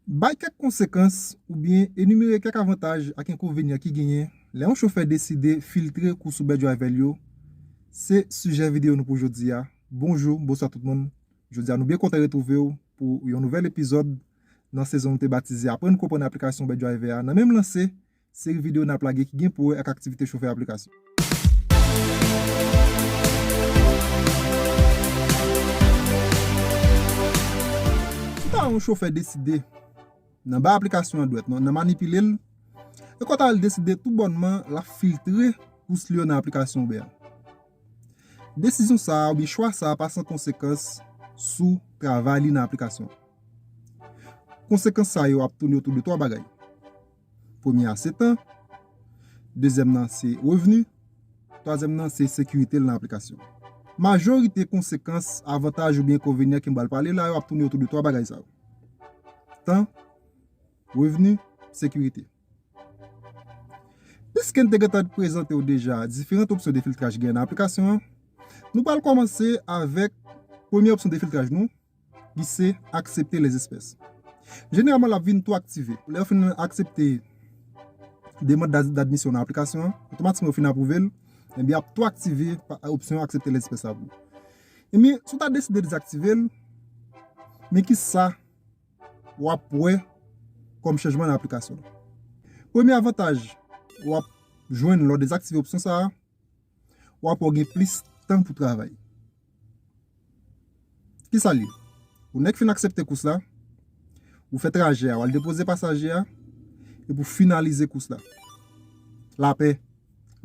Bay kèk konsekans oubyen enimere kèk avantaj ak enkonvenyan ki genyen lè yon chofè deside filtre kou sou bè driver l yo se sijè videyo nou pou jodi a Bonjou, bonswa tout moun Jodi a nou byen kontan retwouve w pou yon nouvèl epizòd nan sezon nou te batize Aprann Konprann Aplikasyon Uberdriver a nan menm lanse Seri videyo n ap lage ki gen pou wè ak aktivite chofè aplikasyon. Kouta yon chofè deside nan bay aplikasyon an dwèt nan manipile l, e kouta l deside tou bònman l ap filtre kous li yo nan aplikasyon Uber. Desizyon sa a oubyen chwa sa a pa san konsekans sou travay li nan aplikasyon an. Konsekans sa yo ap toune otou de twa bagay. Premye a se tan, dezyèm nan se revni, twazyèm nan se sekirite l nan aplikasyon. Majorite konsekans, avantaj oubyen enkonvenyan ke m pral pale la yo ap tounen otou de twa bagay sa yo. Tan, revni, sekirite. Piske n te gentan prezante w deja diferant opsyon de filtraj gen nan aplikasyon an, nou pral kòmanse avèk premye opsyon de filtraj nou, Li se aksepte les espèces. Jeneralman l ap vin tou aktive. Lè yo fin aksepte demand d'admission nan aplikasyon an, otomatikman yo fin apwouve l, enben y ap tou aktive opsyon aksepte les espèces la pou ou. Enben, si w ta deside dezaktive l, men ki sa w ap wè kòm chanjman nan aplikasyon w. Premye avantaj w ap jwenn lè w dezaktive opsyon sa a, Wap wè w gen plis tan pou travay. Kisa l ye? Yon nèg fin aksepte kous la, ou fè trajè a, wal depoze pasaje a, epi w finalize kous la. Lapè.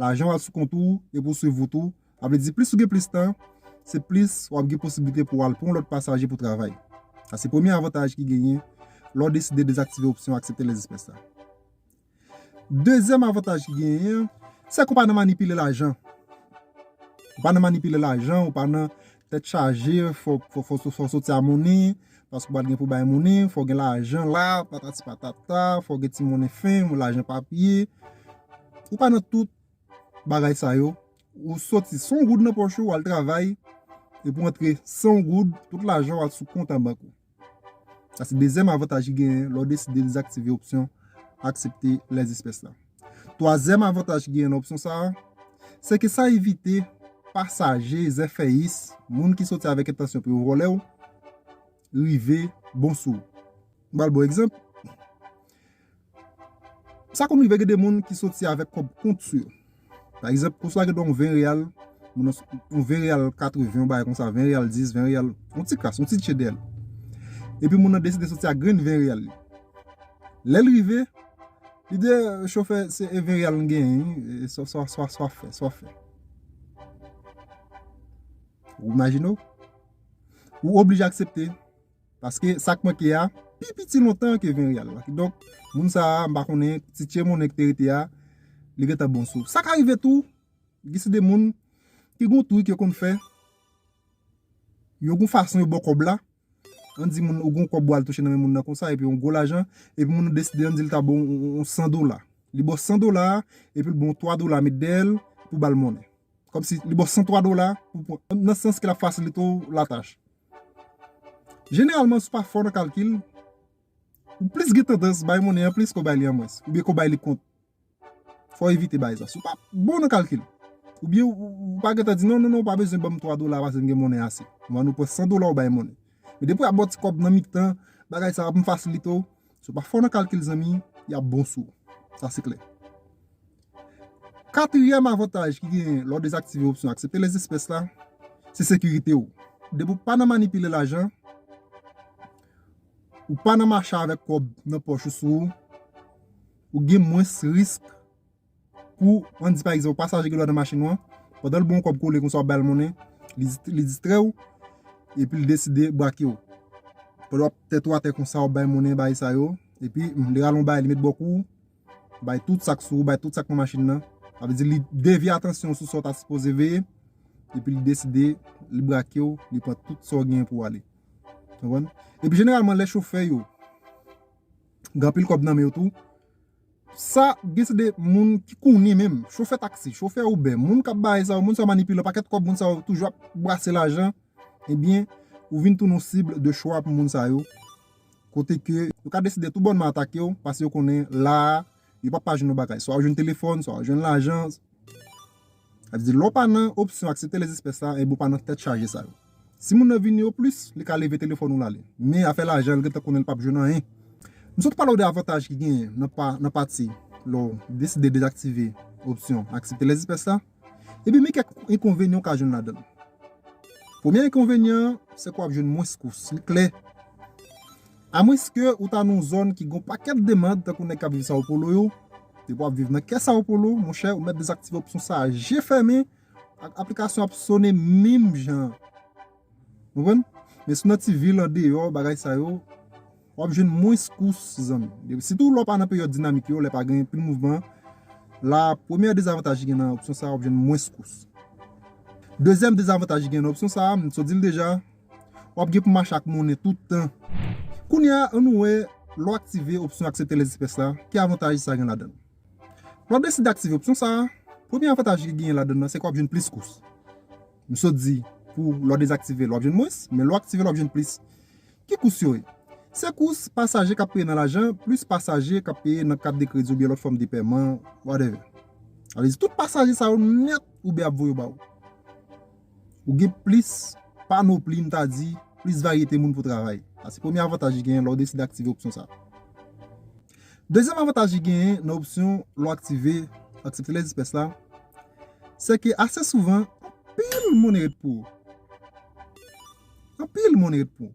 Lajan w al sou kont ou, epi w swiv wout ou. Sa vle di plis ou gen plis tan, se plis wap gen posiblite pou wal pou yon lòt pasaje pou travay. Sa se premye avantaj ki genyen lè w deside dezaktive opsyon aksepte lèzespès la. Dezyèm avantaj ki genyen an, se ke ou pa nan manipile lajan. Ou pa nan manipile lajan, ou pa nan tèt chaje, fò ou soti a monnen, paske ou pa t gen pou bay monnen, fò ou gen lajan la, patati patata, fò ou gen ti monnen fenk, lajan papye. Ou pa nan tout bagay sa yo. Ou soti san yon goud nan pòch ou, ou al travay, epi ou antre san yon goud, tout lajan ou a sou kont an bank ou. Sa se dezyèm avantaj ki genyen lè w deside dezaktive opsyon aksepte lè espès la. Twazyèm avantaj ki genyen nan opsyon sa a, se ke sa evite pasaje zèfèyis, moun ki soti avèk entansyon pou yo vòlè w, rive bon sou ou. M pral ba w egzanp. Sa konn rive gen de moun ki soti avèk kòb kont sou yo. Pa egzanp, kous la gen dwa yon 20 real, yon 20 real 80, yon bagay konsa, 20 real 10, 20 real, yon ti kras, yon ti tchè dèyè l. Epi moun nan deside soti ak grenn 20 real li. Lè l rive, li di, chofè, se 20 real m genyen wi, sa w ap fè, sa w ap fè. Ou imajine w? Ou oblije aksepte Paske sa k manke a pi piti lontan ke Venreal la. Kidonk, moun sa a, m pa konnen, ti tchè monnen ki te rete a, li gentan bon sou. Sa ka rive tou, gen se de moun ki gen yon trik yo konn fè, yo gen yon fason yo bo kòb la, an di moun ou gen yon kòb ou al touche nan men moun nan konsa, epi yon gwo lajan, epi moun nan deside an di l ta ba w yon 100 dola. Li ba w 100 dola a, epi l ba w 3 dola met dèyè l pou w ba l monnen. Kom si li baw 103 dola pou pran. Nan sans ke lap fasilite w la tach. Jeneralman si w pa fò nan kalkil, ou plis gen tandans bay monnen an plis ke w bay li an mwens. Oubyen ke w bay li kont. Fò w evite bay sa. Si w pa bon nan kalkil. Oubyen ou pa gentan di non non non ou pa bezwen banm 3 dola pase m gen monnen ase. Ou annou pran 100 dola ou bay monnen. Men depi w ap baw ti kòb nan mitan bagay sa ap fasilite w. Si w pa fò nan kalkil zanmi, y ap bon sou ou. Sa se klè. Katriyèm avantaj ki genyen lè w dezaktive opsyon aksepte les espèces la, se sekirite w. Depi w pa nan manipile lajan, ou pa nan mache avèk kòb nan pòch ou sou ou, ou gen mwens risk. Pou, an di pa egzanp, pasaje gen dwa nan machin ou an, pandan l ba w yon kòb kole konsa w ba l monnen, li distrè w, epi l deside brake w. Pandan w ap tèt ou atè konsa, w ap ba l monnen, bagay sa yo, epi li rale yon bagay li met bò kou w, bay tout sa k sou ou, bay tout sa k pran machin nan, sa vle di li devye atansyon w sou sa w ta sipoze veye, epi li deside li brake w, li pran tout sa w genyen pou w ale. Ou konprann? Epi jeneralman lè chofè yo gen anpil kòb nan men yo tou, Sa gen se de moun ki konnen menm, chofè taksi, chofè Uber, moun kap bay sa yo, moun sa yo manipile, pakèt kòb moun sa yo toujou ap brase lajan, ebyen ou vin tounen yon cible de choix pou moun sa yo, kote ke yo ka deside tou bònman atake w, pase yo konnen la a yo pap pa jwenn yon bagay, swa ou jwenn telefòn, swa ou jwenn lajan. Sa vle di lè w pa nan opsyon aksepte les espèces la enben w pa nan tèt chaje sa yo. Si moun nan vini o plis li ka leve telefòn ou l ale. Men afè lajan l gentan konnen l pap jwenn anyen. M sot pale w de avantaj ki genyen nan pati lè w deside dezaktive opsyon aksepte les espèces la. Epi men kèk enkonvenyan w ka jwenn ladan l. Premye enkonvenyan an se ke w ap jwenn mwens kous. Li klè. Amwenske ou ta nan yon zòn ki gen yon pakèt demand tankou nèg k ap viv Sao Paulo yo, depi w ap viv nan kè Sao Paulo, monchè, ou mèt dezaktive opsyon sa a je fèmen, aplikasyon ap sone menm jan an. Ou konprann? Men si w nan ti vil andeyò bagay sa yo, w ap jwenn mwens kous zanmi. Sitou lè w pa nan peryòd dinamik yo, lè pa gen anpil mouvman, la a premyè dezavantaj ki gen nan opsyon sa a, w ap jwenn mwens kous. Dezyèm dezavantaj ki gen nan opsyon sa a, m sot di l deja, Wap gen pou mache ak monnen tout tan. Kounye a an nou wè lè w aktive opsyon aksepte lès espès la ki avantaj sa gen ladann. Lè w ap deside aktive opsyon sa a, premye avantaj li genyen ladann nan se ke w ap jwenn plis kous. M sot di pou lè w dezaktive l w ap jwenn mwens, men lè w aktive l w ap jwenn plis. Ki kous yo ye? Se kous pasaje k ap peye nan lajan plis pasaje k ap peye nan kat de kredi oubyen lòt fòm de pèman whatever. Sa vle di tout pasaje sa yo nèt Uber ap voye yo ba ou. Ou gen plis panopli, m ta di, plis varyete moun pou travay. Sa se premye avantaj li genyen lè w deside aktive opsyon sa. Dezyèm avantaj li genyen nan opsyon lè w aktive Aksepte lè dispès la, se ke ase souvan, anpil moun ret pou ou. Anpil moun ret pou ou.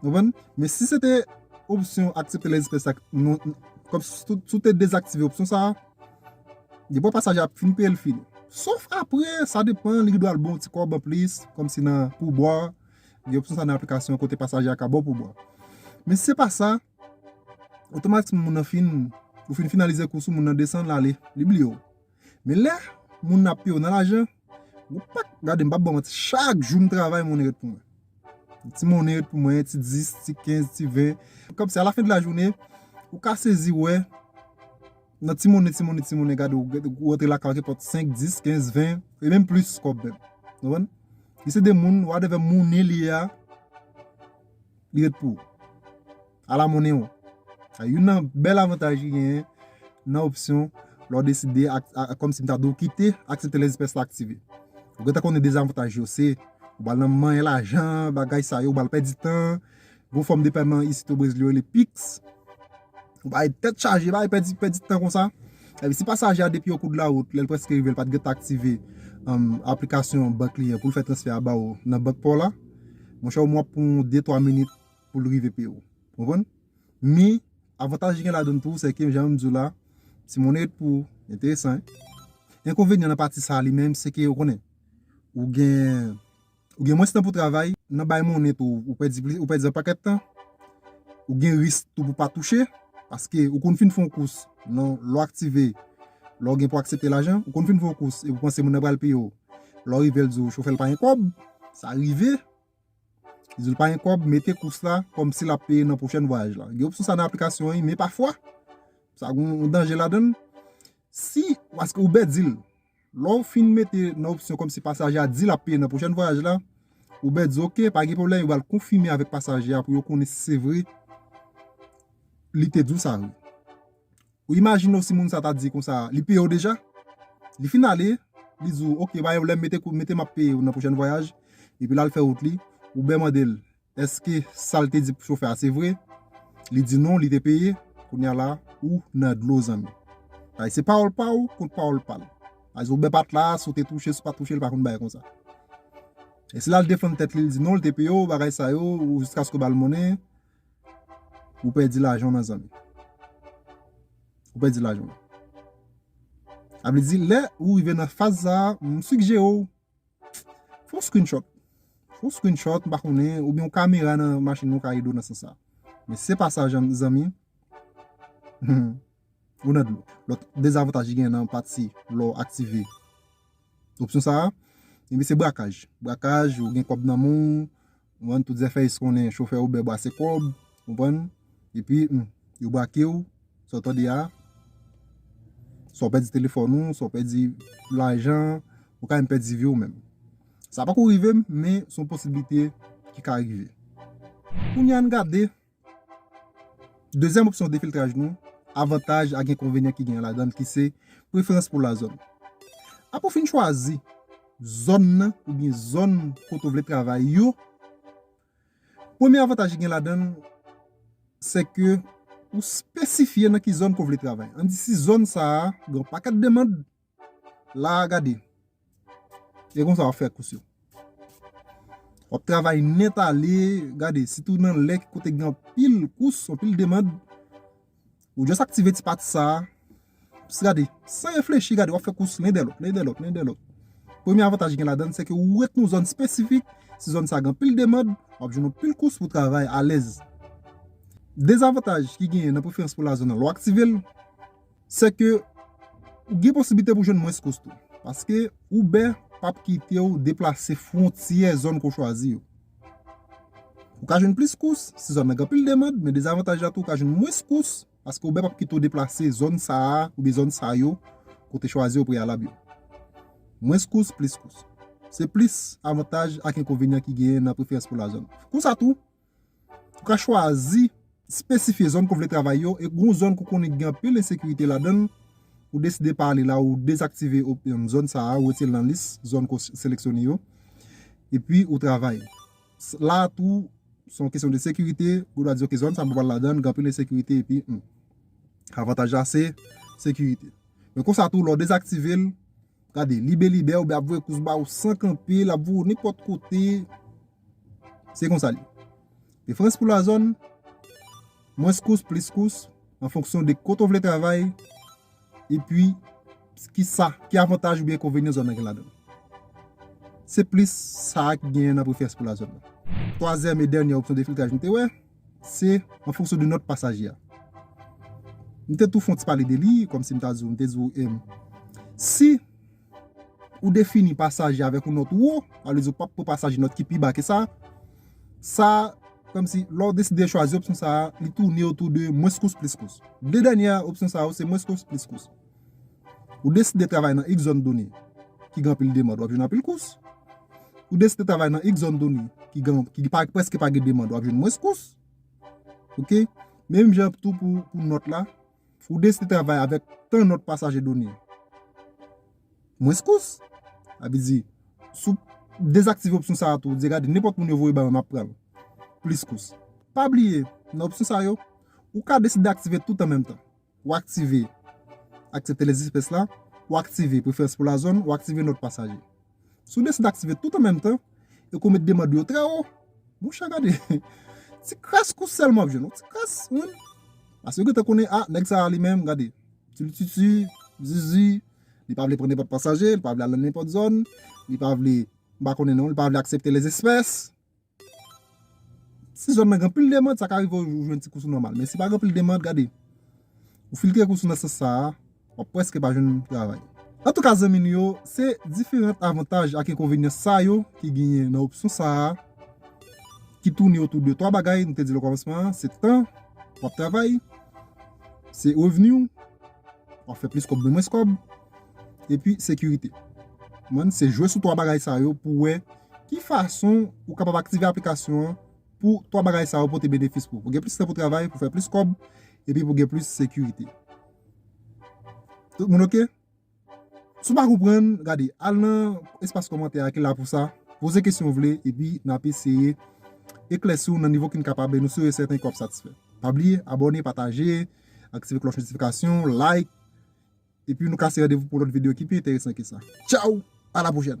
Konprann? Men si se te opsyon aksepte lè espès la kòm si si w te dezaktive opsyon sa a, depi pasaje a ap fin peye l fini. Sof apre, sa depan, li gendwa l ba w ti kòb anplis kòm si nan poubwa, gen opsyon sa nan aplikasyon kote pasaje a ka ba w poubwa. Men si se pa sa, otomatikman moun nan fin, ou fin finalize kous ou, moun nan desann l ale, li bliye w. Men lè moun ap peye w nan lajan, ou pa k gade m pa ban manti chak jou m travay monnen ret pou mwen. Yon ti monnen ret pou mwen, ti 10, ti 15, ti 20. Kòmsi a la fen de la jounen, ou ka sezi wè nan ti monnen, ti monnen, ti monnen gade ou rantre lakay ou gen pou 5, 10, 15, 20 e menm plis kòb menm. Ou konprann? Li se de moun, whatever monnen li a, li ret pou ou. Ala monnen ou! Sa youn nan bèl avantaj ki genyen nan opsyon lè w deside kòm si m ta di w kite aksepte les espèces la aktive. Ou gentan konnen dezavantaj yo se ou pral nan manyen lajan, bagay sa yo, ou pral pèdi tan, gon fòm de pèman isit o Brezil yo rele pix, ou bay tèt chaje, bay pèdi pèdi tan konsa. Epi si pasaje a depi o kou de la wout lè l prèske rive l pa t gentan aktive aplikasyon bank li an pou l fè transfè a ba ou nan bank pa w la, monchè ou menm w ap pran yon de twa minit. pou l rive pi wo. Konprann? Men, avantaj li gen ladann tou, se ke jan m di w la, ti monnen yo t pou enteresan. Enkonvenyan nan pati sa a li menm, se ke ou konnen, ou gen, ou gen mwens tan pou travay, nan bay monnen tou, ou pèdi plis, ou pèdi yon pakèt tan, ou gen risk tou pou pa touche, paske ou konn fin fè yon kous, nan lè w aktive, lè w gen pou aksepte lajan, ou konn fin fè yon kous, epi w panse moun nan pral peye w, lè w rive l di w chofè l pa gen kòb, sa rive, Li di l pa gen kòb, mete kous la kòm si l ap peye nan pwochèn vwayaj la. Gen opsyon sa nan aplikasyon an men pafwa sa gen yon danje ladan l. Si, paske Uber di l, lè w fin mete nan opsyon kòm si pasaje a di l ap peye nan pwochèn vwayaj la, Uber di ok, pa gen pwoblèm, yo pral konfime avèk pasaje a pou yo konnen si se vre li te di w sa. Ou imajine w si moun sa ta di konsa, li peye w deja? Li fin ale, li di w, ok, ba yon lè, mete kote m ap peye w nan pwochèn vwayaj, epi l al fè wout li. Ou byen mande l, èske sa l te di chofè a se vre? Li di non, li te peye. Kounye a la, ou nan dlo, zanmi. Bagay se pawòl pa w kont pawòl pa l. Sa vle di ou bè pat la, si w te touche, si w pa t touche, li pa konn bay konsa. E si l al defann tèt li, li di non, li te peye w, bagay sa yo, jiskaske w ba l monnen. Ou pèdi lajan w nan zanmi. Ou pèdi lajan w. A vle di lè ou rive nan faz sa a, m sigjere w fè yon screenshot. Fè yon screenshot, m pa konnen, oubyen yon kamera nan machin ou ka ede w nan sans sa. Men se pa sa zanmi, ou nan dlo. Lòt dezavantaj ki gen nan pati lè w aktive opsyon sa a, se brakaj. Brakaj, ou gen kòb nan men w, Konprann tout zèfèyis konnen chofè Uber brase kòb konprann epi yo brakew sa w tande a sa w pèdi telefòn ou sa w pèdi lajan ou ka menm pèdi vi w menm sa pako rive m men son posiblite ki ka rive. Kounya ann gade Dezyèm opsyon defiltraj nou, avantaj ak enkonvenyen ki genyen ladan l ki se, preferans pou lazòn. Apre w fin chwazi zòn nan oubyen zòn kote w vle travay yo, premye avantaj ki gen ladan l se ke ou spesifye nan ki zòn ke w vle travay. An di si zòn sa a gen yon pakèt demand, Laa gade. E konsa wap fè kous yo. Wap travay nèt ale. Gade sitou nan lè kote gen anpil kous, anpil demand. Ou just aktive ti pati sa. Pss gade. San reflechi gade wap fè kous len dè lòt, len dè lòt, len dè lòt. Premye avantaj gen ladann se ke ou ret nou zòn espesifik. Si zòn sa gen anpil demand, wap jwenn anpil kous pou travay alèz. Dezavantaj ki gen nan preferans pou lazon nan lè w aktive l. Se ke ou gen posiblite pou jwenn mwens kous tou. Paske Uber p ap kite ou deplase fwontyè zòn ke w chwazi yo. Ou ka jwenn plis kous si zòn nan gen anpil demand, men dezavantaj la tou ou ka jwenn mwens kous paske Uber p ap kite ou deplase zòn sa a oubyen zòn sa yo ke w te chwazi o preyalab yo. Mwens kous, plis kous. Se plis avantaj ak enkonvenyan ki genyen nan preferans pou la zòn. Konsa tou, Ou ka chwazi spesifye zòn ke w vle travay yo e gon zòn ke w konnen ki gen anpil ensekirite ladan, ou deside pa ale la, ou dezaktive zòn sa a, ou retire l nan lis zòn ke w seleksyone yo, epi ou travay. La a tou, se yon kesyon de sekirite, ou ta di ok zòn sa m pa pral ladan l, gen anpil ensekirite epi avantaj la se sekirite. Men konsa tou lè w dezaktive l. Gade libelibè oubyen ap voye kous ba ou san kanpe, l ap voye ou nenpòt kote. Se konsa li. Preferans pou lazòn, mwens kous, plis kous, an fonksyon de kote ou vle travay, epi ki sa, ki avantaj oubyen enkonvenyen zòn nan gen ladan l. Se plis sa a ki gen nan preferans pou lazòn nan. Twazyèm e dènyè opsyon de filtraj nou te wè. Se an fonksyon de nòt pasaje a. M te tou fè yon ti pale de li, kòm si m ta di w, m te di w, si ou defini pasaje a avèk yon nòt wo, sa vle di ou p ap pran pasaje nòt ki pi ba ke sa, sa kòm si lè w deside chwazi opsyon sa a, li toune otou de mwens kous plis kous. De dènyè opsyon sa yo se mwens kous plis kous. Ou deside travay nan X zòn done ki gen anpil demand, w ap jwenn anpil kous. Ou deside travay nan X zòn done ki prèske pa gen demand, w ap jwenn mwens kous. Menm jan tou pou nòt la, ou deside travay avèk tan nòt pasaje done, mwens kous. Sa vle di, si w dezaktive opsyon sa a tou, ou di gade nenpòt moun yo voye ba mwen m ap pran l, plis kous. Pa bliye, nan opsyon sa yo, ou ka deside aktive tout an menm tan. Ou aktive Aksepte lès espès la Ou aktive Preferans pou la zòn Ou aktive Nòt pasaje Si w deside aktive tout an menm tan e ke w met demand ou yo trè wo, monchè gade ti kras kou sèl m ap jwenn, yon ti kras wi paske yo gentan konnen a nèg sa a li menm gade tulitutu, zuzu li pa vle pran nenpòt pasaje, li pa vle al nan nenpòt zòn li pa vle m pa konnen non, li pa vle aksepte lès espès Si zòn nan gen anpil demand, sa ka rive ou jwenn ti kousou nòmal. Men si pa gen anpil demand, gade, ou filtre kousou nan sans sa a, w ap prèske pa jwenn travay. Antouka zanmi nou yo, se diferant avantaj ak enkonvenyan sa yo ki genyen nan opsyon sa a ki toune otou de twa bagay nou te di l okòmansman an, se tan w ap travay, se revni w, w ap fè plis kòb nan mwens kòb, epi sekirite. Konprann? Se jwe sou twa bagay sa yo pou w wè. Ki fason ou kapab aktive aplikasyon an pou 3 bagay sa yo pote benefis pou ou? Pou gen plis tan pou travay, pou fè plis kòb, epi pou gen plis sekirite. Tout moun ok? Si w pa konprann, gade, al nan espas kòmantè a ki la pou sa, poze kesyon ou vle, epi n ap eseye eklèsi w nan nivo ki n kapab e nou si e sèten ke w ap satisfè. Pa bliye abòne, pataje, aktive klòch notifikasyon, like. Epi nou kase randevou pou lòt video ki pi enteresan ke sa. Tchaw! A la pwochèn!